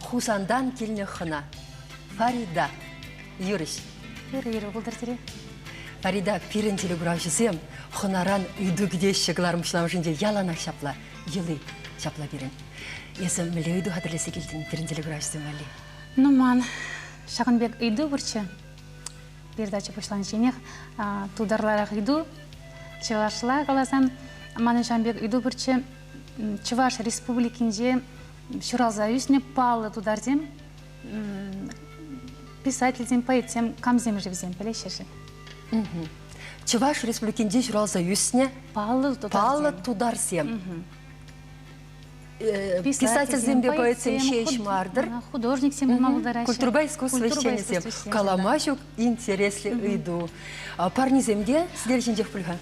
Хусантан килнӗ хӑна. Фарида. Юрӑҫ. Юрӑ-юрӑ пултӑр сире. Фарида, пирӗн телекуравҫӑсем хӑнаран ыйту кӗтеҫҫӗ кӑларӑмҫламӑшӗнче яланах ҫапла, йӑли, ҫапла пирӗн. Эсӗ мӗнле ыйту хатӗрлесе килтӗн пирӗн телекуравҫӑсем валли? Ну ман ҫакӑн пек ыйту пурччӗ. Передача пуҫланичченех тултарларах ыйту. Чӑвашла каласан, манӑн ҫакӑн пек ыйту пурччӗ. Чӑваш Республикинче ҫуралса ӳснӗ паллӑ тутарсем писательсем, поэтсем, камсем-ши вӗсем, пӗлеҫҫӗ-ши? Чӑваш Республикинче ҫуралса ӳснӗ паллӑ тутарсем. Э, писательсемпе поэтсем ҫеҫ мардыр. Художниксем пулма пултараҫҫӗ. Культурӑпа искусство ӗҫченӗсем. Калама ҫук интереслӗ ыйту. Парнесем те сӗтел ҫинчех пуль-ха?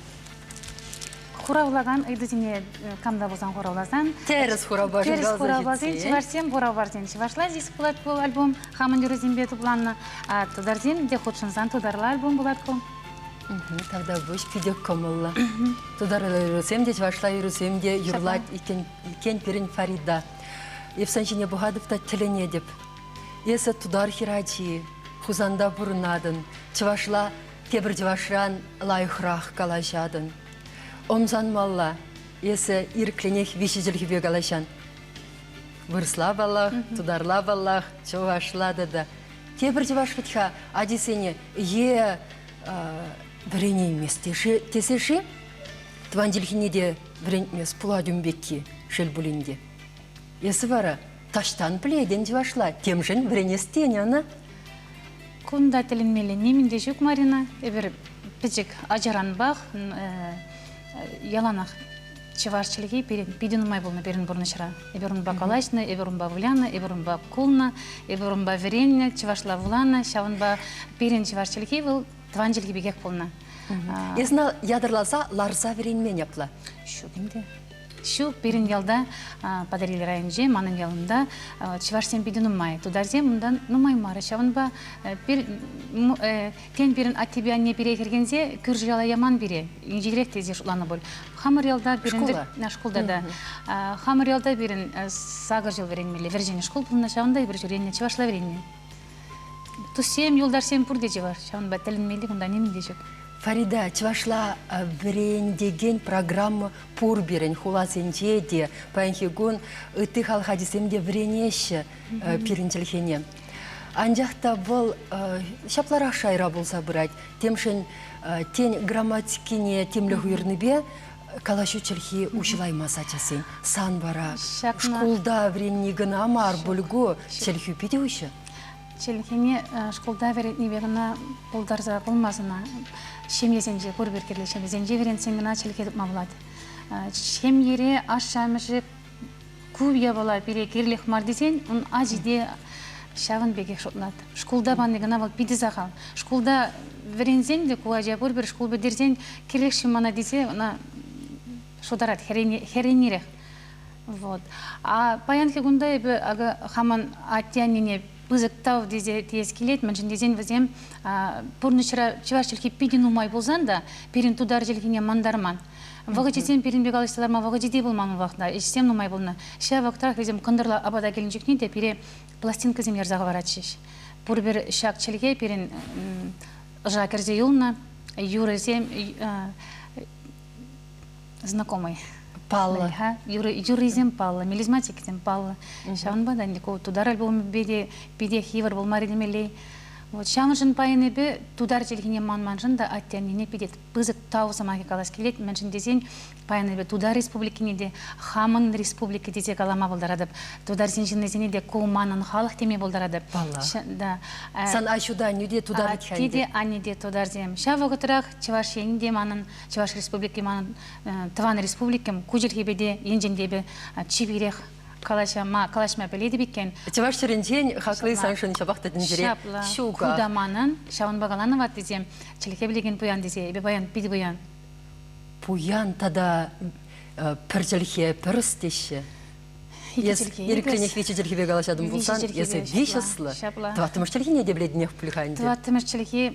хуравлакан ыйтусене кам та пулсан хуравласан тӗрӗс хуравпа тӗрӗс хуравласен чӑвашсем бураварсен чӑвашла здесь пулать ку альбом хамӑн юрӑсемпе тупланнӑ тутарсем те хутшӑнсан тутарла альбом пулать ку Тавда выҫ питӗ кӑмӑллӑ. Тутар юрӑсем те, чӑвашла юрӑсем те юрлать иккен, иккен пирӗн Фарида. Эпсан ҫине пӑхатӑп та тӗлӗнетӗп. Эсӗ тутар хӗрачи, Хусанта пурӑнатӑн, чӑвашла Тепӗр чӑвашран лайӑхрах калаҫатӑн. Ӑмсанмалла, эсӗ ирӗклӗнех виҫӗ чӗлхепе калаҫан. Вырсла паллах, тутарла паллах, чӑвашла тата. Тепӗр чӑваш вӗт-ха ачисене е вӗренеймест тесе-ши? Тӑван чӗлхене те вӗрентмест пулать ун пекки, шел пулин те. Эсӗ вара Таҫтан пӗлетӗн чӑвашла, темшӗн вӗренес тенӗ ӑна. Кунта тӗлӗнмелле нимӗн те ҫук, Марина. Эпир пӗчӗк ачаранпах яланах чӑваш чӗлхи пирӗн питӗ нумай пулнӑ пирӗн пурнӑҫра. Эпир унпа калаҫнӑ, эпир унпа вылянӑ, эпир унпа кулнӑ, эпир унпа вӗреннӗ, чӑвашла вуланӑ. Ҫавӑнпа пирӗн чӑваш чӗлхи вӑл тӑван чӗлхи пекех пулнӑ. Эс ӑна ятарласа ларса вӗренмен апла? Ҫук ӗнтӗ. Ҫу пирӗн ялта, Патӑрьел районӗнче, манӑн ялӑнта чӑвашсем питӗ нумай. Тутарсем унтан нумай мар. Ҫавӑнпа пир, тен, пирӗн аттепе анне пире хӗрхенсе кӳршӗ яла яман пире. Инҫетерех тесе шутланӑ пуль. Хамӑр ялта пирӗн... Шкула? Шкулта та. Хамӑр ялта пирӗн сакӑр ҫул вӗренмелле. Вӗрҫӗнӗ шкул пулнӑ, ҫавӑнта эпир ҫӳренӗ, чӑвашла вӗреннӗ. Туссем, юлташсем пурте чӑваш. Ҫавӑнпа тӗлӗнмелли кунта нимӗн те ҫук. Фарида, чӑвашла вӗрентекен программа Пур пирӗн хуласенче те паянхи кун ытти халӑх ачисем те вӗренеҫҫӗ пирӗн чӗлхене. Анчах та вӑл ҫапларах шайра пулса пырать. Темшӗн тен грамматикине тимлӗх уйӑрнипе калаҫу чӗлхи уҫӑлаймас ачасен. Сан вара шкулта вӗренни кӑна мар, бульгу чӗлхӳ питӗ уҫӑ. Чӗлхене шкулта вӗрентнипе кӑна пултарса пулмасть ӑна. Ҫемьесенче, пур пек кирлӗ ҫемьесенче вӗрентсен кӑна чӗлхе тупма пулать. Ҫемьере ашшӗ-амӑшӗ ку япала пире кирлех мар тесен ун ачи те ҫавӑн пекех шутлать. Шкулта пани кӑна вӑл питӗ сахал. Шкулта вӗренсен те ку ача пур пӗр шкул пӗтерсен кирлех-ши мана тесе ӑна шутарать хӗрӗнерех. Вот. А паянхи кунта эпӗ хамӑн атте-аннене пысӑк тав тесе теес килет, мӗншӗн тесен вӗсем пурнӑҫра чӑваш чӗлхи питӗ нумай пулсан та пирӗн тутар чӗлхине мантарман. Вӑхӑчӗсем пирӗнпе калаҫса ларма вӑхӑчӗ те пулман унлӑхна, ӗҫсем нумай пулнӑ. Ҫав вӑхӑтрах вӗсем кӑнтӑрла апата килнӗ чухне те пире пластинкӑсем ярса хӑваратчӗҫ. Пурпӗр ҫак чӗлхе пирӗн ӑша кӗрсе юлнӑ, юрӑсем знакомый паллӑ юрӑ юррисем паллӑ мелизматиксем паллӑ ҫавӑнпа та ӗнтӗ ку тутар альбомӗпе те питех йывӑр пулмарӗ темелле вот ҫавӑншӑн пайӑннипе тутар чӗлхине манманшӑн та атте-аннене питӗ пысӑк тав сӑмахӗ калас килет мӗншӗн тесен пайӑннипе тутар республикине те хамӑн республика тесе калама пултаратӑп тутарсен ҫыннисене те ку манӑн халӑх теме пултаратӑп паллах да э, сан аҫу та аннӳ те тутар атте те анне те тутарсем ҫав вӑхӑтрах чӑваш енӗ те манӑн Чӑваш Республики манӑн тӑван республикам ку чӗлхепе те енчен те чи пирех калаҫма калаҫма пӗлетӗп иккен. Чӑваш чӗринчен хакли саншӑн ҫапах та тӗнчере ҫук. Ку та манӑн, ҫавӑнпа каланӑ ваттисем, чӗлхе пӗлекен пуян тесе эпӗ паян питӗ пуян. Пуян тата пӗр чӗлхе, пӗрс теҫҫӗ. Эс ирӗкренех виҫӗ чӗлхепе калаҫатӑн пулсан, эсӗ виҫ ӑслӑ. Тӑваттӑмӗш чӗлхене те пӗлетӗнех пуль-ха ӗнтӗ. Тӑваттӑмӗш чӗлхе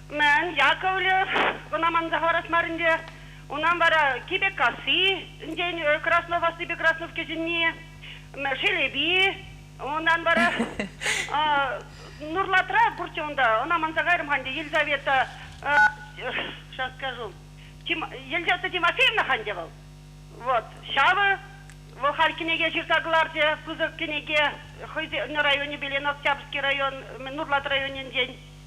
Мӗн, Яковлев ӑна манса хӑварас мар ӗнтӗ. Унан вара Кипеккасси, ӗнтен Краснов аслипе Краснов кӗҫӗнни, Шелепи, унан вара Нурлатра пурччӗ унта, ӑна манса кайрӑм-ха ӗнтӗ Елизавета, сейчас скажу, Елизавета Тимофеевна ха ӗнтӗ вӑл. Вот, ҫавӑ вӑл халь кӗнеке ҫырса кӑларчӗ, пысӑк кӗнеке хӑйсен районӗпе Леноктябрьский район, Нурлат районӗнчен.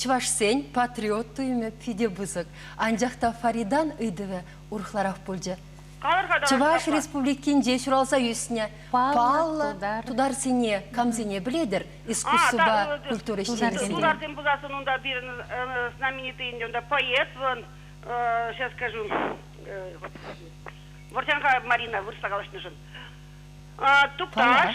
Чӑвашсен патриот туйӑмӗ питӗ пысӑк, анчах та Фаридан ыйтӑвӗ урӑхларах пулчӗ. Чӑваш Республикинче ҫуралса ӳснӗ паллӑ тутарсене камсене пӗлетӗр искусствӑпа культура ӗҫченӗсене? Тутарсем пуласӑн унта пирӗн знаменитый ӗнтӗ унта поэт вӑн сейчас скажу выртянка Марина вырӑсла калаҫнӑшӑн Тукташ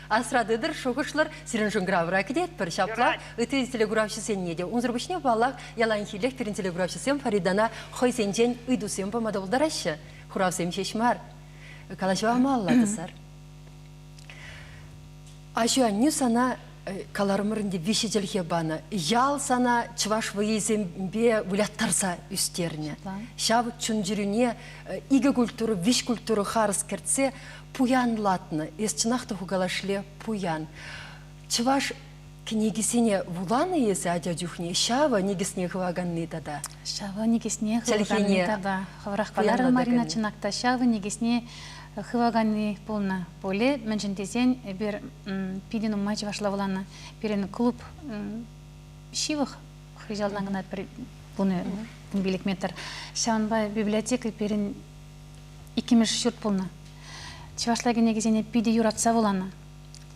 Асра тытӑр, шухӑшлӑр, сирӗн шӑнкӑравра кӗтетпӗр. Ҫапла, ытти телекуравҫӑсенне те. Унсӑр пуҫне, паллах, яланхиллех пирӗн телекуравҫӑсем Фаридана хӑйсенчен ыйтусем пама та пултараҫҫӗ. Хуравсем ҫеҫ мар, калаҫу амалла тӑсар. Аҫу-аннӳ сана э, каларӑмӑр ӗнтӗ виҫӗ чӗлхе панӑ. Ял сана чӑваш вӑйӗсемпе выляттарса ӳстернӗ. Ҫав чун-чӗрӳне э, икӗ культура, виҫ культура харӑс кӗртсе пуянлатнӑ, эс чӑнах та хукалашле пуян. Чӑваш кӗнекисене вуланӑ эсӗ ача чухне, ҫавӑ никӗсне хываканни тата. Ҫавӑ никӗсне хываканни тата. Хӑвӑрах каларӑр, Марина, чӑнах та ҫавӑ никӗсне хываканни пулнӑ пулӗ. Мӗншӗн тесен эпир питӗ нумай чӑвашла вуланӑ. Пирӗн клуб ҫывӑх хыҫалтан кӑна пӗр пулнӑ пилӗк метр. Ҫавӑнпа библиотека пирӗн иккӗмӗш ҫурт пулнӑ. Чӑвашла кӗнекесене питӗ юратса вуланӑ.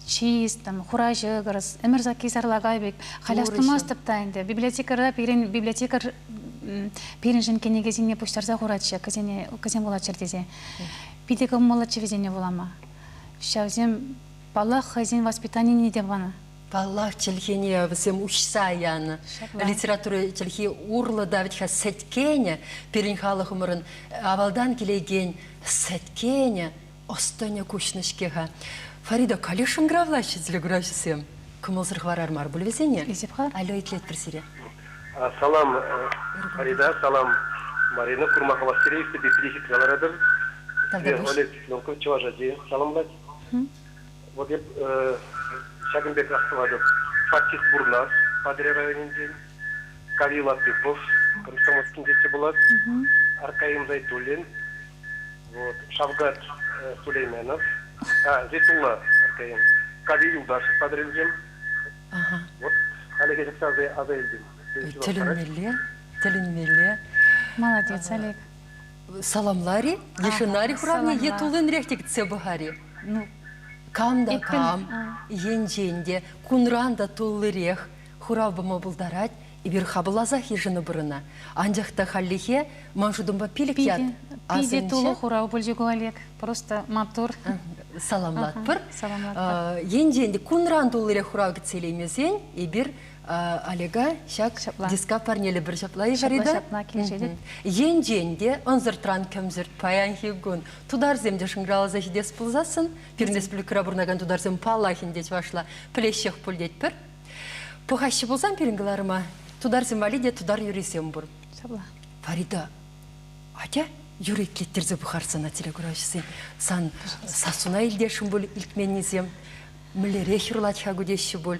Чист, там, хура ҫӑкӑрс, ӗмӗр сакки сарлака пек. Халь астумастӑп та ӗнтӗ. Библиотекарьра пирӗн библиотекарь пирӗншӗн кӗнекесене пуҫтарса хуратчӗ, кӗсене кӗсем вулатчӑр тесе. Питӗ кӑмӑллӑччӗ вӗсене вулама. Ҫавсем, паллах, хӑйсен воспитанине те панӑ. Паллах, чӗлхене вӗсем уҫса янӑ. Литература чӗлхи урлӑ та вӗт-ха сӗткенӗ, пирӗн халӑхӑмӑрӑн авалтан килекен сӗткенӗ, ӑс-тӑнӗ куҫнӑ-ҫке-ха. Фарида Калишин гравлаҫҫӗ телекуравҫӑсем. Кӑмӑлсӑр хӑварар мар пуль вӗсене. Эсип-ха, алле итлетпӗр сире. Салам, Фарида, салам. Марина, курма хавассире иртнӗ пепкине хитре ларатӑр. Сире Олег Левков чӑваш ачи саламлать. Вӑт эп ҫакӑн пек астӑватӑп, фактик Бурнас, Патӑрьел районӗнчен, Кави Латыпов, Комсомольскинче те пулать, Аркаим Зайтуллин, вӑт, Шавкат Сулейменов, а, Зейтулла Аркаим, Кави Юлташев Патӑрьелтен, вӑт, халӗхе чӑтса аса илтӗм. Тӗлӗнмелле, тӗлӗнмелле. Молодец, Олег. Саламлар-и? Е шӑнар-и хуравне? Е туллинрех те кӗтсе пӑхар-и? Ну, кам та кам, енчен те, кунран та туллирех хурав пама пултарать, эпир хапӑлласах йышӑну пурӑна. Анчах та хальлӗхе ман шутӑмпа пилӗк ят Питӗ тулӑ хурав пулчӗ ку Олег. Просто матур. Саламлатпӑр. Саламлатпӑр. Енчен те кунран туллирех хурав кӗтсе илеймесен, эпир Олега ҫак ҫапла диска парнеле пӗр ҫапла ҫапла ҫапла килӗшетӗп. Енчен те ӑнсӑртран кӗмсӗрт паянхи кун тутарсем те шӑнкӑравласа ҫитес пулсассӑн пирӗн республикӑра пурӑнакан тутарсем паллах ӗнтӗ чӑвашла пӗлеҫҫех пуль тетпӗр. Пӑхаҫҫӗ пулсан пирӗн кӑларӑма тутарсем валли те тутар юррисем пур. Ҫапла. Фарида, атя юрӑ итлеттерсе пӑхар сана телекуравҫӑсен. Сан сассуна илтесшӗн пуль илтменнисем. Мӗнлерех юрлать-ха ку теҫҫӗ пуль.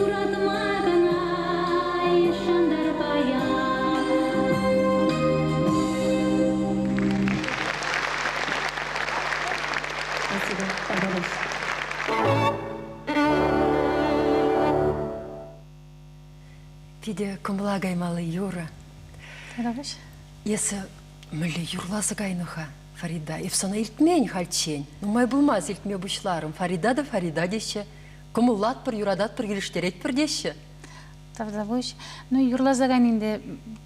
Юратма кӑна йышӑнтӑр Питӗ кӑмӑла каймалли юрӑ. Тавтапуҫ. Эсӗ мӗнле юрласа кайнӑ-ха, Фарида? Эп сана илтмен хальччен. Нумай пулмасть илтме пуҫларӑм. Фарида та Фарида теҫҫӗ. Кӑмӑллатпӑр, юрататпӑр, килӗштеретпӗр теҫҫӗ. Тавтапуҫ. Ну, юрласа кайнин데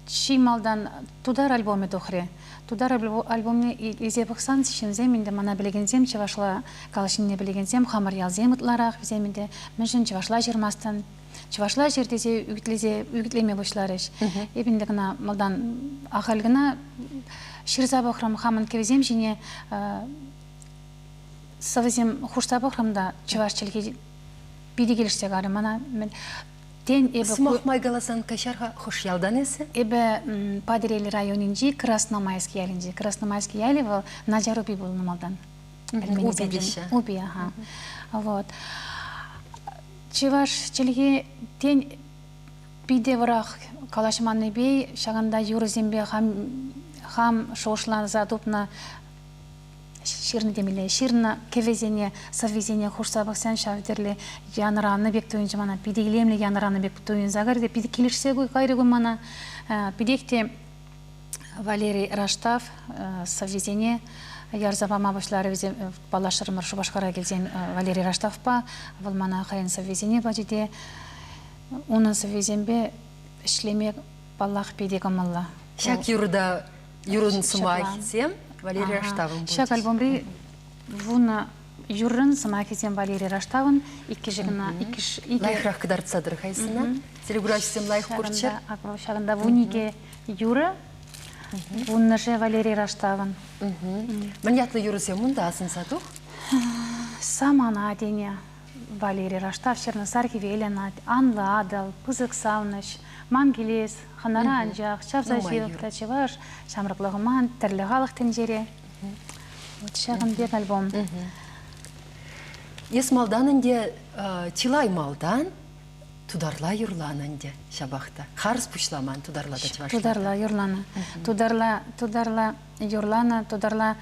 чи малтан тутар альбомӗ тухрӗ. Тутар альбомне илсе пӑхсан ҫынсем ӗнтӗ, мана пӗлекенсем, чӑвашла калаҫнине пӗлекенсем, хамӑр ялсем ытларах, вӗсем ӗнтӗ мӗншӗн чӑвашла ҫырмастӑн? Чӑвашла ҫыр тесе ӳкӗтлесе ӳкӗтлеме пуҫларӗҫ. Эп ӗнтӗ кӑна малтан ахаль кӑна ҫырса пӑхрӑм, хамӑн кӗвӗсем ҫине сӑвӑсем хушса пӑхрӑм та чӑваш чӗлхи питӗ килӗшсе карӗ мана. Тен, эпӗ... Сӑмах май каласан каҫар-ха, хӑш ялтан эсӗ? Эпӗ Патӑрьел районӗнчи Красномайск ялӗнче. Красномайск ялӗ вӑл Начар Упи пулнӑ малтан. Упиҫӗ. Упи, ага. Вот. Чӑваш чӗлхи, тен, питӗ вӑрах калаҫманнипе ҫакӑнта юрӑсемпе хам, хам шухӑшланса тупнӑ ҫырнӑ темелле ҫырнӑ кӗвӗсене сӑввисене хушса пӑхсан ҫав тӗрлӗ янӑранӑ пек туйӑнчӗ мана питӗ илемлӗ янӑранӑ пек туйӑнса кайрӗ те питӗ килӗшсе кайрӗ кун мана питех те Валерий Раштав сӑввисене ярса пама пуҫларӗ вӗсем паллашрӑмӑр Шупашкара килсен Валерий Раштавпа вӑл мана хӑйӗн сӑввисене пачӗ те унӑн сӑввисемпе ӗҫлеме паллах питӗ кӑмӑллӑ ҫак юрта юрӑн сӑмахӗсем Валерия Раштавӑн пулчӗҫ. Ҫак альбомри вунӑ юррӑн сӑмахӗсем Валерий Раштавӑн иккӗшӗ кӑна иккӗш икӗ лайӑхрах кӑтартса тӑрӑхайсӑна телеграфҫӑсем лайӑх курччӑр. Ҫакӑнта вун икӗ юрӑ, вуннӑшӗ Валерий Раштавӑн. Мӗн ятлӑ юрӑсем унта асӑнса тух? Самана тене Валери раштав ҫырнӑ Сар хӗвелӗн анлӑ Атӑл, пысӑк савнӑҫ. Ман килес, хӑнара анчах, чавса ҫывӑх та чӑваш, ҫамрӑклӑхӑман тӗрлӗ халӑх тӗнчере. Вот ҫакӑн пек альбом. Эс малтан ӗнтӗ чылай малтан тутарла юрланӑ ӗнтӗ ҫапах та. Харӑс пуҫламан тутарла та чӑвашла. Тутарла юрланӑ. Тутарла тутарла юрланӑ, тутарла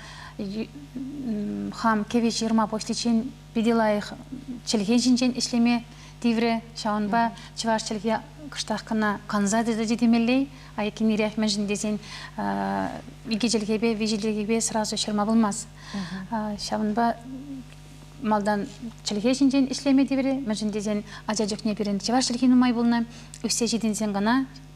хам кӗвӗ ҫырма пуҫличчен питӗ лайӑх чӗлхе ҫинчен ӗҫлеме тиврӗ. Ҫавӑнпа чӑваш чӗлхе кӑштах кӑна канса тытӑчӗ темелле. Айккинерех мӗншӗн тесен икӗ чӗлхепе, виҫӗ чӗлхепе сразу ҫырма пулмасть. Ҫавӑнпа малтан чӗлхе ҫинчен ӗҫлеме тиврӗ, мӗншӗн тесен ача чухне пирӗн чӑваш чӗлхи нумай пулнӑ. Ӳссе ҫитӗнсен кӑна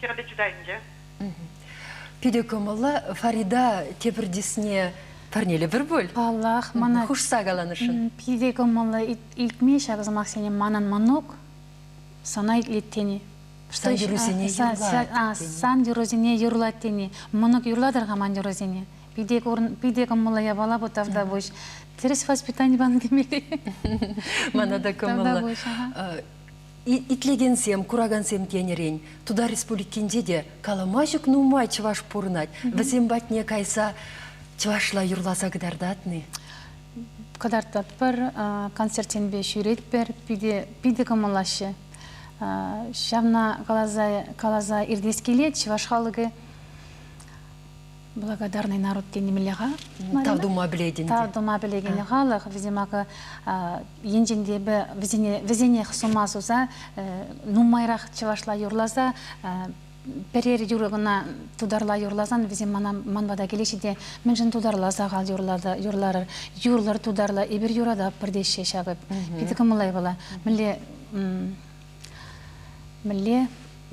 хӗрпе чутай ӗнтӗ. Питӗ кӑмӑллӑ. Фарида тепӗртисне парнелӗпӗр пуль. Паллах, мана хушса каланӑшӑн. Питӗ кӑмӑллӑ. Илтме ҫак сӑмахсене манӑн мӑнук сана итлет тени. Сан юррисене юрлать. Сан юррисене юрлать тени. Мӑнук юрлатӑр-ха ман юррисене. Питӗ кӑмӑллӑ япала бу тавтапуҫ. Тӗрӗс воспитани панӑ темелле. Мана та кӑмӑллӑ. Итлекенсем, куракансем тенӗрен, Тутар Республикинче те калама ҫук нумай чӑваш пурӑнать. Вӗсем патне кайса чӑвашла юрласа кӑтартатни. Кӑтартатпӑр, концертсемпе ҫӳретпӗр, питӗ питӗ кӑмӑллаҫҫӗ. Ҫавна каласа каласа иртес килет, чӑваш халӑхӗ Благодарный народ тенемелле-ха. Тав тума пӗлетӗн. Тав тума пӗлекен халӑх, вӗсем акӑ енчен те эпӗ вӗсене вӗсенех сума суса нумайрах чӑвашла юрласа пӗрер юрӑ кӑна тутарла юрласан вӗсем мана ман пата килеҫҫӗ те мӗншӗн тутарла сахал юрлата юрларӑр юрлӑр тутарла эпир юрататпӑр теҫҫӗ ҫакӑ питӗ кӑмӑллӑ вӑла мӗнле Мӗнле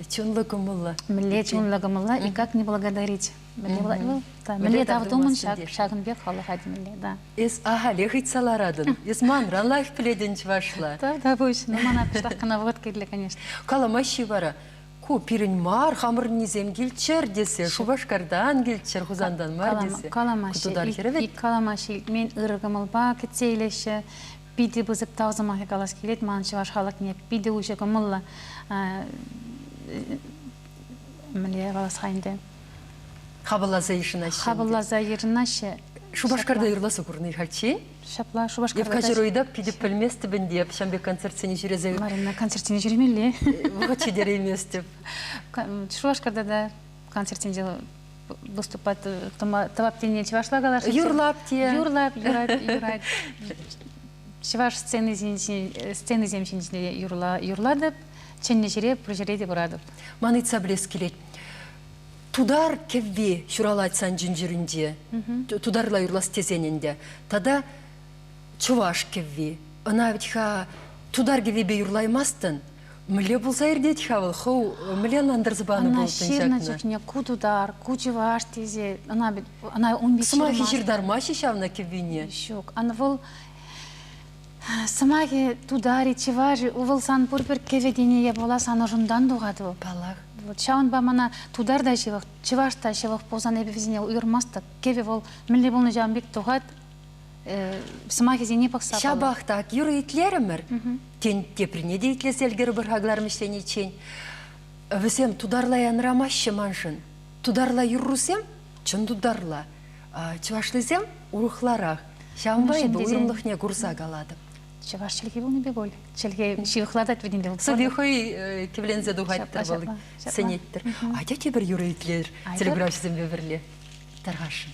чунлӑ кӑмӑллӑ. Мӗнле чунлӑ кӑмӑллӑ и как не благодарить. Мӗнле тав тумӑн ҫакӑн пек халӑха темелле, да. Эс ахалех ыйтса ларатӑн. Эс манран лайӑх пӗлетӗн чӑвашла. Да, да, пуҫно. Мана пӗштах кӑна вӑхӑт кирлӗ, конечно. Каламаҫҫи вара. Ку пирӗн мар, хамӑрӑннисем килччӗр тесе, Шупашкартан килччӗр, Хусантан мар тесе. Каламаҫҫи. Каламаҫҫи илтмен ырӑ кӑмӑлпа кӗтсе илеҫҫӗ. Питӗ пысӑк тав сӑмахӗ калас килет ман чӑваш халӑхне. Питӗ уҫӑ кӑмӑллӑ. Мӗнле калас-ха ӗнтӗ? Хапӑлласа йышӑнаҫҫӗ. Хапӑлласа йышӑнаҫҫӗ. Шупашкарта юрласа курнӑ хальччен. Ҫапла, Шупашкарта. Евкаҫ Ройда питӗ пӗлместӗп ӗнтӗ эп ҫам пек концертсене ҫӳресе. Марина, концертсене ҫӳремелле. Вӑхӑт ҫитерейместӗп. Шупашкарта та концертсенче выступать тӑвап тенине чӑвашла калаҫҫӗ юрлап те юрлать юрать юрать чӑваш сценисем ҫинче юрла юрлатӑп чӗннӗ ҫӗре пур ҫӗре те пыратӑп ман ыйтса пӗлес килет тутар кӗвви ҫуралать сан чун-чӗрӳнче тутарла юрлас тесен ӗнтӗ тата чӑваш кӗвви ӑна вӗт-ха тутар кӗввипе юрлаймастӑн Мӗнле пулса иртет-ха вӑл? Хӑв мӗнле ӑнлантарса панӑ Ӑна ҫырнӑ чухне ку тутар, ку чӑваш тесе ӑна ӑна ун пек сӑмахӗ ҫыртармаҫҫӗ ҫавна кӗввине. Ҫук, ан вӑл сӑмахӗ тутарӗ, чӑвашӗ, вӑл сан пурпӗр кӗвӗтене пула сан ӑшунтан тухать вӑл. Паллах. Вот ҫавӑнпа мана тутар та ҫывӑх, чӑваш та ҫывӑх пулсан эпӗ вӗсене уйӑрмастӑп. Кӗвӗ вӑл мӗнле пулнӑ ҫавӑн пек тухать. сӑмахӗсене пӑхса ҫапах та юрӑ итлерӗмӗр тен теприне те итлесе ӗлкӗрӗпӗр-ха кӑларӑм ӗҫлениччен вӗсем тутарла янрамаҫҫӗ маншӑн тутарла юррусем чӑн тутарла чӑвашлисем урӑхларах ҫавӑнпа эпӗ уйрӑмлӑхне курса калатӑп чӑваш чӗлхи пулнипе пуль чӗлхе ҫывӑхлатать вӗт ӗнтӗ сыви хӑй кивленсе тухать та вӑл сӗнеттӗр атя тепӗр юрӑ итлер телеграфҫӑсемпе пӗрле тархасшӑн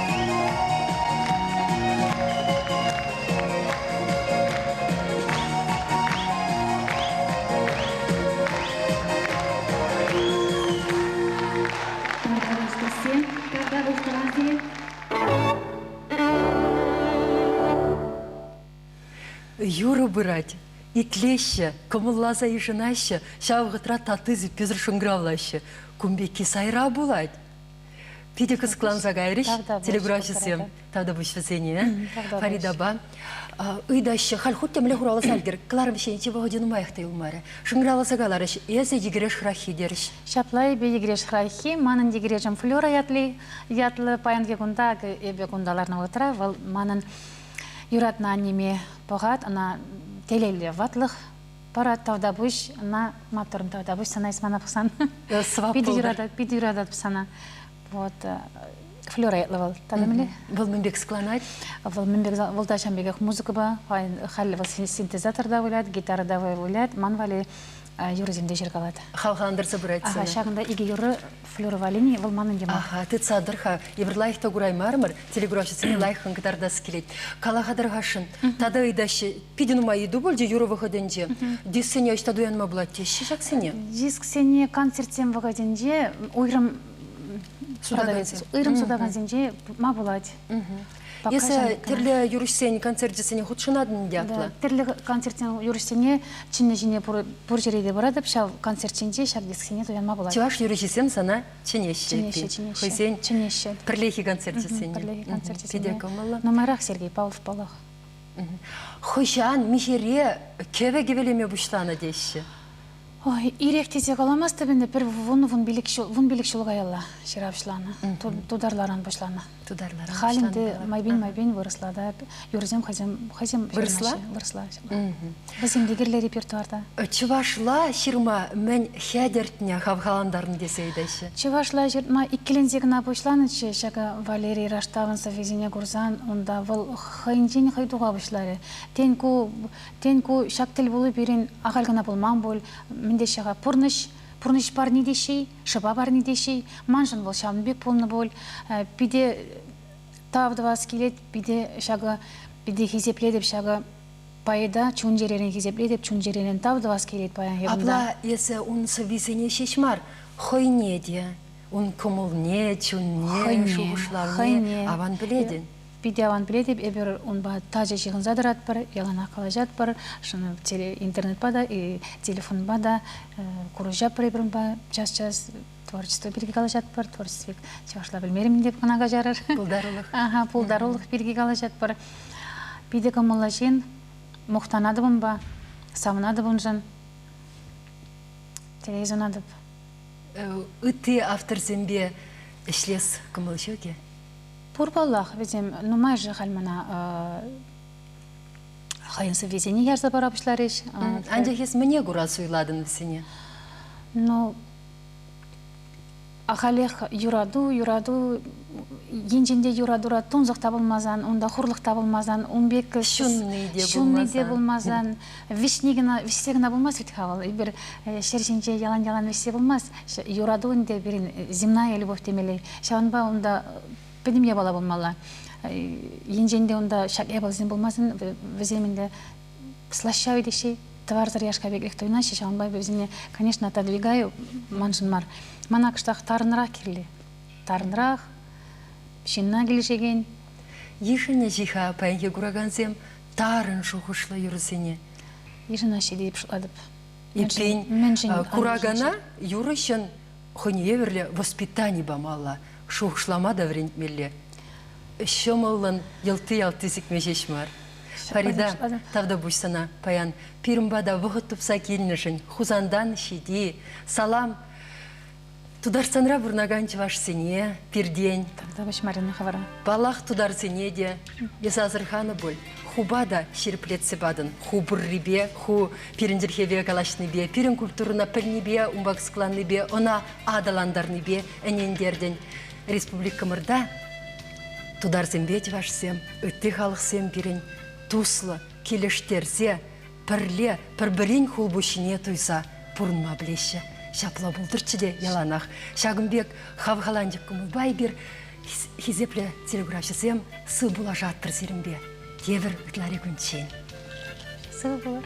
Юрӑ пырать. Итлеҫҫӗ, кӑмӑлласа йышӑнаҫҫӗ, ҫав вӑхӑтра татти-сиппесӗр шӑнкӑравлаҫҫӗ. Кун пекки сайра пулать. Питӗ кӑсӑкланса кайрӗҫ телеграфҫӑсем татӑпӑҫ вӗсене. Фаридапа ыйтаҫҫӗ, халь хуть темле хуралас алтӑр, кӑларӑм ҫийӗнчи вӑхӑчӗ нумаях та юлмарӗ. Шӑнкӑравласа каларӗҫ, эсӗ йӗкӗреш хӑраххи терӗҫ. Ҫапла, эпӗ йӗкӗреш хӑраххи, манӑн йӗкӗрешӗм Флера ятли ятлӑ паянхи кунта, эпӗ кунта ларнӑ вӑхӑтра вӑл манӑн юратнӑ аннеме пӑхать, ӑна телейлӗ ватлӑх Пара тавтапуҫ, ӑна маттур тавтапуҫ, сана эс мана пӑхсан. Питӗ юрататӑп, питӗ юрататӑп сана. Вот. Флера ятлӑ вӑл, танымли? Вӑл мӗн пек склонать? Вӑл мӗн пек, вӑл та ҫавӑн пекех музыкӑпа, халӗ вӑл синтезатор та вылять, гитара та вылять, ман валли юрӑсем те ҫыркалать. Хавхалантарса пырать сана. Ҫакӑнта икӗ юрӑ Флюра Валини вӑл манӑн йӑмах. Аха, тытса тӑр-ха. Эпир лайӑх та кураймарӑмӑр, телеграфҫӑсене лайӑххӑн кӑтартас килет. Кала-ха тӑр-хашӑн, тата ыйтаҫҫӗ, питӗ нумай ыйту пулчӗ юрӑ вӑхӑтӗнче. Дисксене ӑҫта туянма пулать теҫҫӗ ҫаксене? Дисксене концертсем вӑхӑтӗнче уйрӑм сутакансенче пыма пулать. Эсӗ тӗрлӗ юрӑҫсен концерчӗсене хутшӑнатӑн ятлӑ. Тӗрлӗ концертсен юрӑҫсене чӗннӗ ҫине пур ҫӗре те пыратӑп ҫав концерт ҫинче ҫав дисксене туянма пулать. Чӑваш юрӑҫисем сана чӗнеҫҫӗ. Чӗнеҫҫӗ, чӗнеҫҫӗ. Хӑйсен пӗрлехи концерчӗсене. Пӗрлехи концерчӗсене. Питӗ кӑмӑллӑ. Нумайрах Сергей Павлов паллах. Хӑҫан, миҫере кӗвӗ кӗвӗлеме пуҫланӑ теҫҫӗ. Ой, ирех тесе каламастӑп ӗнтӗ. Пӗр вун-вун пилӗк ҫул, вун пилӗк ҫул каялла ҫыравҫланӑ. Тутарларан пуҫланӑ. Тутарларан. Халь ӗнтӗ майпен-майпен вырӑсла та юрӑсем хӑйсем хӑйсем вырӑсла вырӑсла хӑйсем те кирлӗ репертуарта. Чӑвашла ҫырма мӗн хӗтӗртнӗ хавхалантарнӑ тесе ыйтаҫҫӗ. Чӑвашла ҫырма иккӗленсе кӑна пуҫланӑччӗ ҫакӑ Валерий Раштавӑн сӑввисене курсан унта вӑл хӑйӗнчен хӑй туха пуҫларӗ. Тен ку Тен, ку ҫак тӗлпулу пирӗн ахаль кӑна пулман пуль, мӗн теҫҫӗ-ха, пурнӑҫ? Пурнӑҫ парни теҫҫӗ-и, шӑпа парни теҫҫӗ-и? Маншӑн вӑл ҫавӑн пек пулнӑ пуль. Питӗ тав тӑвас килет, питӗ ҫакӑ, питӗ хисеплетӗп ҫакӑ поэта, чун-чӗререн хисеплетӗп, чун-чӗререн тав тӑвас килет паян ҫакӑнта. Апла эсӗ ун сӑввисене ҫеҫ мар, хӑйне те, ун кӑмӑлне, чунне, шухӑшлавне аван пӗлетӗн. Питӗ аван пӗлетӗп, эпир унпа тачӑ ҫыхӑнса тӑратпӑр, яланах калаҫатпӑр, интернетпа та, телефонпа та курӑҫатпӑр эпир унпа час-час творчество пирки калаҫатпӑр. Творчество пек чӑвашла белмерӗм те кӑна каҫарар. Пултарулӑх. Ага, пултарулӑх пирки калаҫатпӑр. Питӗ кӑмӑллӑ ҫын. Мухтанатӑп унпа, савӑнатӑп уншӑн. Телей сунатӑп. Ытти авторсемпе ӗҫлес кӑмӑл ҫук-и? Пур паллах, вӗсем нумай-ши халь мана хӑйӗн сӑввисене ярса пара пуҫларӗҫ. Анчах эс мӗне кура суйлатӑн вӗсене? Ну, ахалех юрату, юрату енчен те юратура тунсӑх та пулмасан, унта хурлӑх та пулмасан, ун пек ҫунни те пулмасан, Вӗҫни кӑна, вӗҫсе кӑна пулмасть вӗт-ха вӑл. Эпир ҫӗр ҫинче ялан-ялан вӗҫсе пулмасть. Юрату ӗнтӗ пирӗн земная любовь темелле. Ҫавӑнпа унта пӗтӗм япала пулмалла. Енчен те унта ҫак япаласем пулмасан, вӗсем ӗнтӗ слащавый теҫҫӗ, тӑварсӑр яшка пекех туйӑнаҫҫӗ. Ҫавӑнпа эпӗ вӗсене, конечно, отодвигаю, маншӑн мар. Мана кӑштах тарӑнрах кирлӗ. Тарӑнрах, ҫынна килӗшекен. Йышӑнӗҫ-и-ха паянхи куракансем тарӑн шухӑшлӑ юрӑсене. Мишӑна ҫити пуҫлатӑп. Иккен, куракана юрӑҫӑн хӑйне евӗрлӗ воспитани памалла, шухӑшлама та вӗрентмелле. Ҫӑмӑллӑн йӑлти-ялти сикме ҫеҫ мар. Фарида, тавтапуҫ сана паян. Пирӗн пата вӑхӑт тупса килнӗшӗн Хусантан ҫити, салам! Тутарстанра пурӑнакан чӑвашсене пиртен, Тавтапуҫ Марина хӑвӑра. паллах, тутарсене те эс асӑрханӑ пуль. Хупа та ҫирӗплетсе патӑн. Ху пуррипе, ху пирӗн чӗлхепе калаҫнипе, пирӗн культурӑна пӗлнипе, унпа кӑсӑкланнипе, ӑна аталантарнипе ӗнентертӗн. Республикӑмӑрта тутарсемпе чӑвашсем, ытти халӑхсем пирӗн туслӑ, килӗштерсе, пӗрле пӗр-пӗрин хулпуҫҫине туйса пурӑнма пӗлеҫҫӗ. Ҫапла пултӑрччӗ те яланах. Ҫакӑн пек хавхаланчӑк кӑмӑлпа эпир хисеплӗ телеграфҫӑсем сыв пулашаттӑр сирӗнпе тепӗр ытларикунччен. Сыв пулӑр.